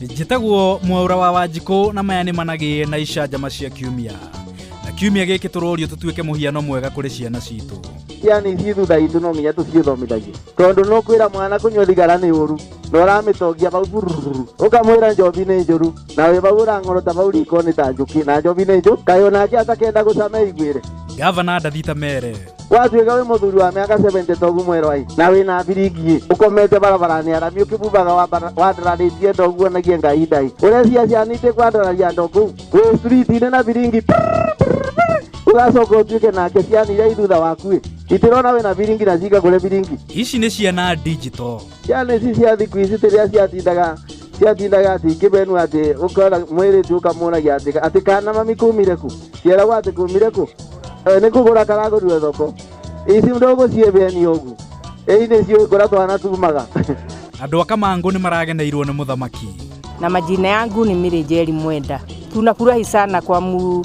njĩtagwo mwaura wa wanjikũ na maya nĩ managĩe na icanjama cia kiumia na kiumia gĩkĩ tũrorio tũtuĩke mũhiano mwega kũrĩ ciana citũ ciana ici thutha itũ no nginya tũciĩthomithagie tondũ nũ kwĩra mwana kũnyua thigara nĩ ũru na ũramĩtongia bau bururu ũkamwĩra njobi nĩ njũru na wĩ bau ũrang'orota bau riko nĩ ta njũkĩ na njobi nĩ njũ kaĩ onake atakenda gũcama iguĩre gavana ndathita mere watuĩka wĩ mũthuri wa mĩaka 70 togu mwerũ ai na wĩ na biringi ũkomete barabaranĩ arami ũkĩbumbaga wambara- wandararĩtie ndogu onagie ngai ndai ũrecia ciana itĩ kwandararia ndogu wĩ street-inĩ na biringi ũgacoka ũtuĩke nake ciana iria ithutha wakuĩ itirona wĩ na biringi na cika kũrĩ biringi Ici nĩ ciana digital. ciana ici cia thiku ici rĩrĩa ciatindaga ciatindaga ati ngĩbenu atĩ ũkona mwĩrĩtu ũkamũragia atĩ atĩ kana mami kumire ku ciaragwo atĩ kumire ku Eh, nĩ kũgũra karagũrue thoko ici ndũgũciebeni ũgu ĩi nĩ ciũĩ kũrĩa twana tumaga Andũ a Kamangũ nĩ marageneirwo nĩ mũthamaki. na majina yangu ni Mary Njeri Mwenda. Tunafurahi sana kwa mu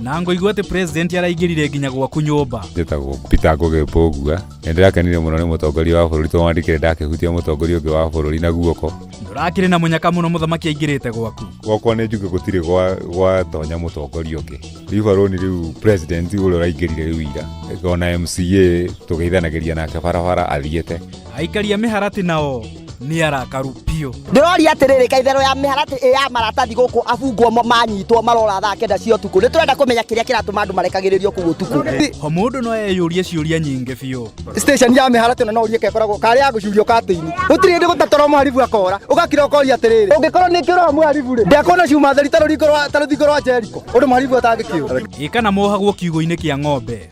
na ngoigua atĩ president araingĩrire nginya gwaku nyũmba njĩtagwo peter ngũgĩ mbũgua nĩ ndĩrakenire mũno nĩ mũtongoria wa bũrũri tondũ wandĩkire ndakĩhutia mũtongoria ũngĩ wa bũrũri na guoko ndũrakĩrĩ na mũnyaka mũno mũthamaki aingĩrĩte gwaku gwakwa nĩ njuge gũtirĩ gwa- gwatonya mũtongoria ũngĩ rĩu barũni rĩu president ũrĩa ũraingĩrire rĩu ira ona mca tũgeithanagĩria nake barabara athiĩte aikari a mĩharatĩ nao nĩ arakaru biũ ndĩroria atĩrĩrĩ ka itherũ ya mĩharatĩ ĩ ya maratathi gũkũ abungwo mo manyitwo marora thaa kenda cia ũtukũ nĩ tũrenda kũmenya kĩrĩa kĩratũma andũ marekagĩrĩrio kũu ũtukũ ho mũndũ no eyũrie ciũria nyingĩ biũ station ya mĩharatĩ ĩno no ũrie kekoragwo karĩ ya gũcurio katĩinĩ gũtirĩ hĩndĩ gũtatwara mũharibu akora ũgakira ũkoria atĩrĩrĩ ũngĩkorwo nĩ kĩũraga mũharibu rĩ ndekuona ciuma theri ta rũthingo rwa Jeriko ũndũ mũharibu atangĩkĩũra ĩ kana mohagwo kiugũ-inĩ kĩa ng'ombe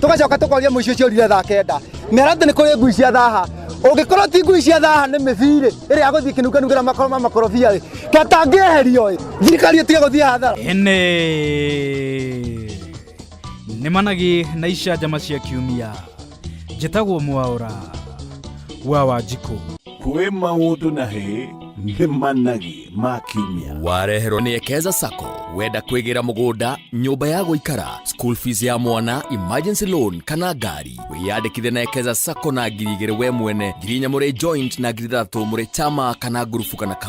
tugacoka tukoria muici ucio urire thaa kenda mera ati ni kuri ngui cia thaha ungikorwo ti ngui cia thaha ni mithiri iria guthii kinunganungira makoro ma makorobia ri katangieherio ri thirikari itige guthii hathara ene nĩ managi na icanjama cia kiumia njĩtagwo mwaũra wa wanjikũ kwĩ maũndũ na hĩ nĩ managi ma kiumia wareherwo nĩ ekeza sacco wenda kwĩgĩra mũgũnda nyũmba ya gũikara school fees ya mwana emergency loan kana ngari wĩyandĩkithe na ekeza sacco na ngiri igĩrĩ we mwene ngiri inya mũrĩ joint na ngiri ithathatũ mũrĩ chama kana ngurubu kana kambuni